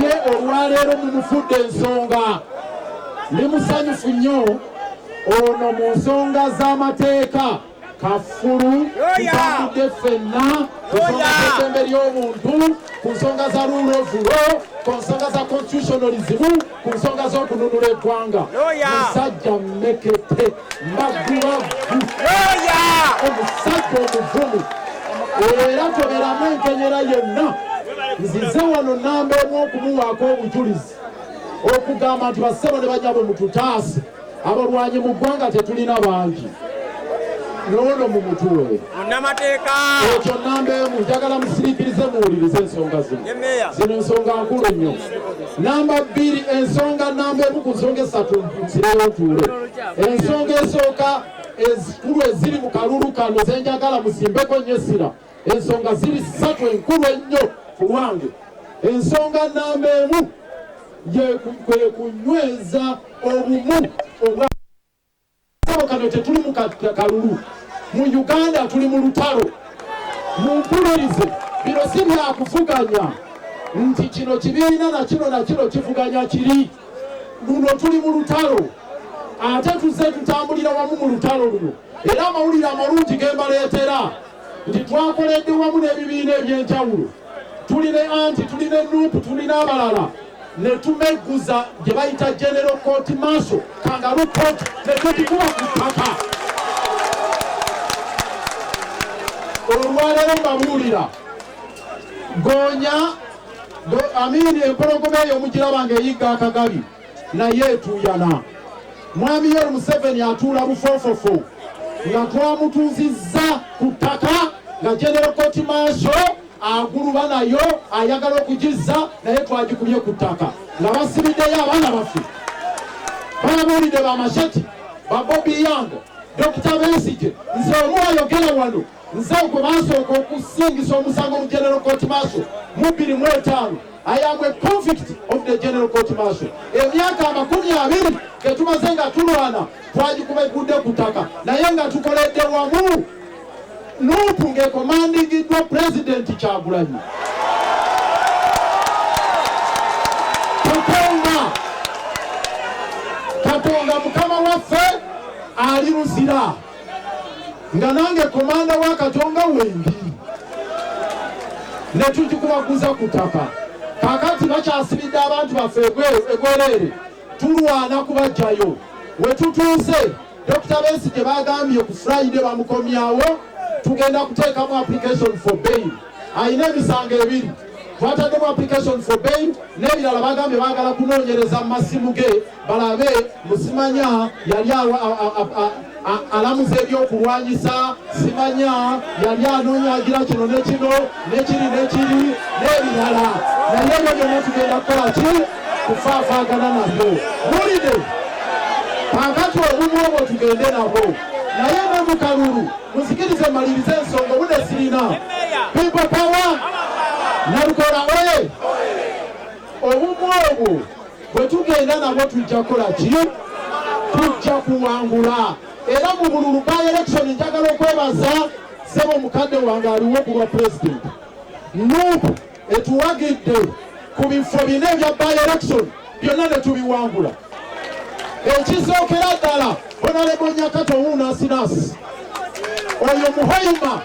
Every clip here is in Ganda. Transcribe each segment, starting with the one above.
ye olwaleero mumufudde ensonga ndi musanyufu nnyo ono mu nsonga z'amateeka kafulu tutambudde ffenna ku nsonga z'eddembe ly'obuntu ku nsonga za rule of law ku nsonga za constitutionalism ku nsonga z'okununula eggwanga musajja mmekete maggulavu omusajja omuvumu era toberamu enkenyera yenna nzize wano namba emu okumuwaako obujulizi okugamba nti bassebo ne banyabwe mututaase abalwanyi mu ggwanga tetulina bangi noono mu mutuwe munamateeka ekyo namba emu njagala musiriikirize muwulirize ensonga zino zino ensonga nkulu nnyo Namba bbiri ensonga namba emu ku nsonga essatu nzirawo ntuule. Ensonga esooka ezikulu eziri mu kalulu kano zenjagala musimbeko nnyo essira. Ensonga ziri ssatu enkulu ennyo ku lwange. Ensonga namba emu kwe kunyweza obumu obwa Sebo kano tetuli mu kalulu mu Uganda tuli mu lutalo. Mumpulirize, bino si byakuvuganya nti kino kibiina na kino na kino kivuganya kiri. Luno tuli mu lutalo ate tuzze tutambulira wamu mu lutalo luno era amawulire amalungi ge mbaleetera nti twakoledde wamu n'ebibiina eby'enjawulo tuli ne anti tuli ne nuupu tuli n'abalala ne tumegguza gye bayita genero kooti maaso kangalu kooti ne tutikuba ku ttaka olwaleero mbabuulira goonya amiini empologoma eyo omugiraba nga eyigga akagabi naye etuuyana mwami yeri museveni atuula bufoofofo nga twamutuuzizza ku ttaka nga genero kooti maaso aguluba nayo ayagala okugizza naye twagikubye ku ttaka nga basibiddeyo abaana baffe babuulidde bamashati babobi yange dokita besige nze omu ayogera wano nze gwe basooka okusingisa omusango mu general court maso mu bbiri mu etaano ayambwe convict of the general court maso emyaka amakumi abiri getumaze nga tulwana twagikuba egudde ku ttaka naye nga tukoledde wamu Nup ng'ekomandingiddwa Pulezidenti Kyagulanyi Katonda Katonda mukama waffe ali Luzira nga nange komanda wa Katonga wendi ne tukikubaguza ku ttaka kakati bakyasibidde abantu baffe egwereere tulwana kubajjayo wetutuuse Dr. Besigye bagambye ku Friday bamukomyawo tugenda kuteekamu application for bail alina emisango ebiri twataddemu application for bail n'ebirala bagambye bagala kunoonyereza mu masimu ge balabe musimanya yali alamuza ebyokulwanyisa simanya yali anoonya agira kino nekino nekiri nekiri nebirala naye ebyo byonna tugenda kukola ki kufaafaagana nabyo bulide kakati obumu obwo tugende nabwo naye nemukalulu muzikirize maliriza ensonga obude sirina pipo pawa nalukola oye obumu obwo bwe tugenda nabo tujja kukola ki tujja kuwangula era mu bululu ba election njagala okwebaza sebo mukadde wange aliwo ku bwa pulezidenti nup etuwagidde ku bifo bina ebya ba election byonna ne tubiwangula ekisookera ddala onalebonyakato wuuno asinasi oyo muhoyima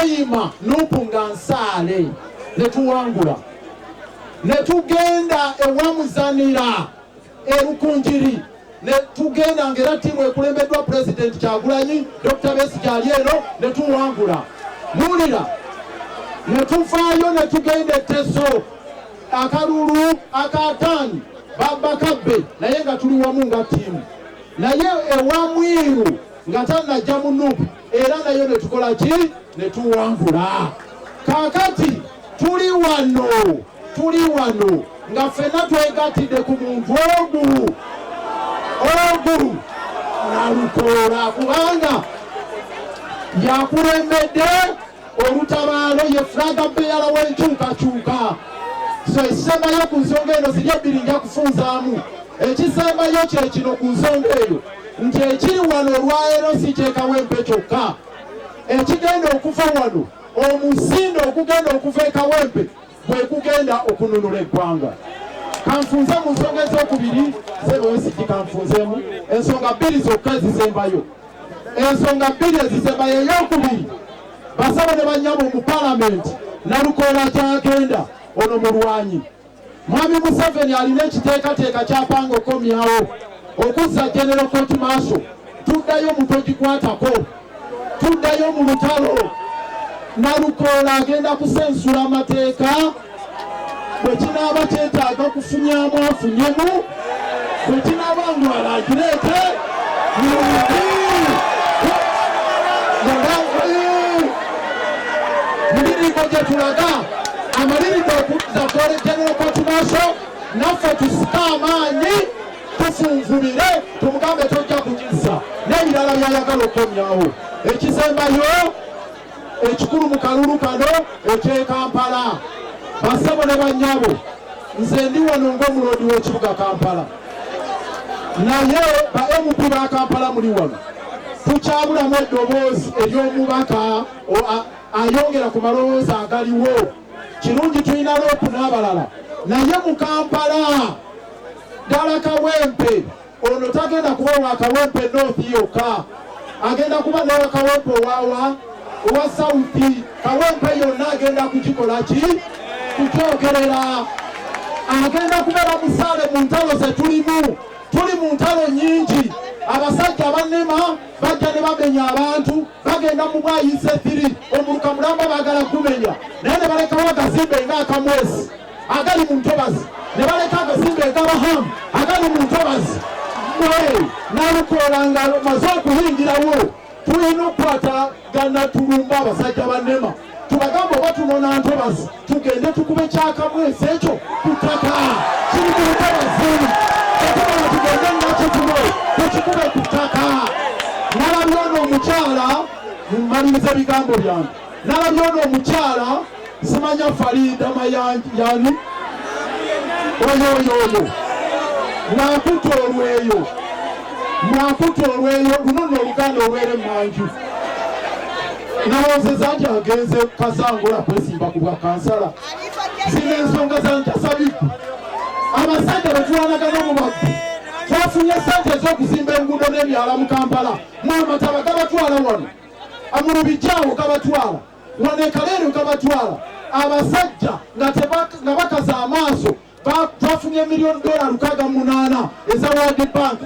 oyima nupu nga nsaale ne tuwangula ne tugenda ewamuzanira erukunjiri ne tugenda nga era tiimu ekulembeddwa pulezidenti kyagulanyi dokita besi gyali eno ne tuwangula muwulira ne tuvaayo ne tugenda eteso akalulu akataani babakabbe naye nga tuli wamu nga tiimu naye ewamwiru nga tanajja mu nupu era nayo ne tukola ki ne tuwangula kaakati tuli wano tuli wano nga ffenna twegattidde ku muntu ogu ogu nalukoola kubanga yakulembedde Olutabaalo ye fulaga beyala w'enkyukakyuka. So ekisembayo ku nsonga eno ziri ebbiri nja kufunzaamu. Ekisembayo kye kino ku nsonga eyo nti ekiri wano olwaleero si kyekawempe kyokka ekigenda okuva wano omusinda ogugenda okuva ekawempe bwe gugenda okununula eggwanga kanfunze mu nsonga ez'okubiri zebwesiki kanfunzemu ensonga bbiri zokka ezisembayo ensonga bbiri ezisembayo eyokubiri basaba ne banyabo mu palamenti nalukoola kyagenda ono mulwanyi mwami museveni alina ekiteekateeka kyapanga okukomyawo okuzza genero koti maaso tuddayo mutogikwatako tuddayo mu lutalo nalukoola agenda kusensula amateeka bwe kinaaba kyetaaga kufunyamu afunyemu bwe kinaaba ngu alagireete mulirimbo gye tulaga amalirimbo okudda twolekera okwatu maaso naffe tusike amaanyi tufunvubire tumugambe tojja kugizza n'ebirala byayagala okukomyawo ekisembayo ekikulu mu kalulu kano ekye Kampala. Bassebo ne bannyabo, nze ndi wano ng'omuloodi w'ekibuga Kampala, naye ba MP ba Kampala muli wano, tukyabulamu eddoboozi ery'omubaka ayongera ku malowooza agaliwo. Kirungi tulina loopu n'abalala, naye mu Kampala ddala Kawempe Ono tagenda kuba wa Kawempe North yokka, agenda kuba n'owa Kawempe owawa owa Sauti. Kawempe yonna agenda kugikola ki kukyogerera. Agenda kubeera musaale mu ntalo ze tulimu, tuli mu ntalo nyingi. Abasajja abannema bajja ne bamenya abantu, bagenda mu bwayise thiri omuluka mulamba bagala kumenya naye ne balekawo akazimbe nga akamwesi agali mu ntobazi ne baleka agasimba egabahamu agali mu ntobazi mwe nalukoola nga maze okuyingirawo tulina okukwata ganatulumba abasajja banema tubagamba oba tunona ntobazi tugende tukube kyakamu ensi ekyo ku ttaka kiri mu ntobazi kyetugana tugende nakitulo tukikube ku ttaka nalabyono omukyala mumaliriza ebigambo byange nalabye ono omukyala simanya falinda mayanjani oyo oyo oyo nakuta olweyo nakuta olweyo luno noluganda olwere manju nawozeza nti agenze kasangula kwesimba ku bwa kansala zina ensonga zantasabiku abasajja betwanagana omubabbi twafunye sente ez'okuzimba enguudo n'ebyala mu kampala mwamataba gabatwala wano mu bijaawo gabatwala wano ekaleero gabatwala abasajja nga bakaza amaaso bafunye miliyoni dola lukaaga munaana eza world bank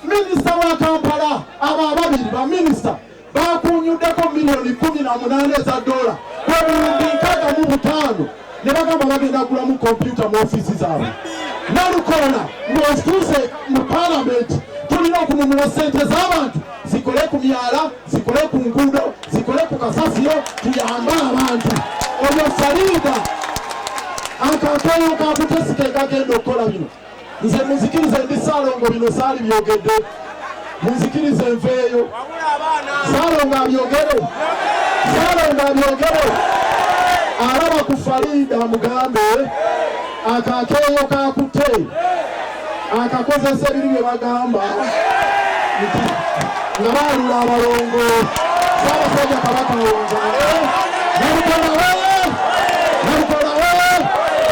minisita wa kampala abo ababiri baminisita bakunyuddeko miliyoni kumi na munaana eza dola kwebuwumbi nkaaga mu butaano ne bagamba bagenda kugulamu kompyuta mu ofiisi zaabwe nalukolona ng'ozituuse mu palamenti tulina okununula sente z'abantu zikole ku myala zikole ku nguudo zikole ku kasasiro tuyambe abantu oyo saliida akatoyo kakutesika ekagenda okukola bino nze muzikirize ndi saalongo bino saali byogedde muzikirize nveeyo saalongo abyogere saalongo abyogere alaba ku faliida mugambe akakeeyo kakutte akakozesa ebiri bye bagamba nga baalula abalongo saabasajja kabaka wonza nabukola nabukola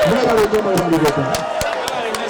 mwebale nyo mwebale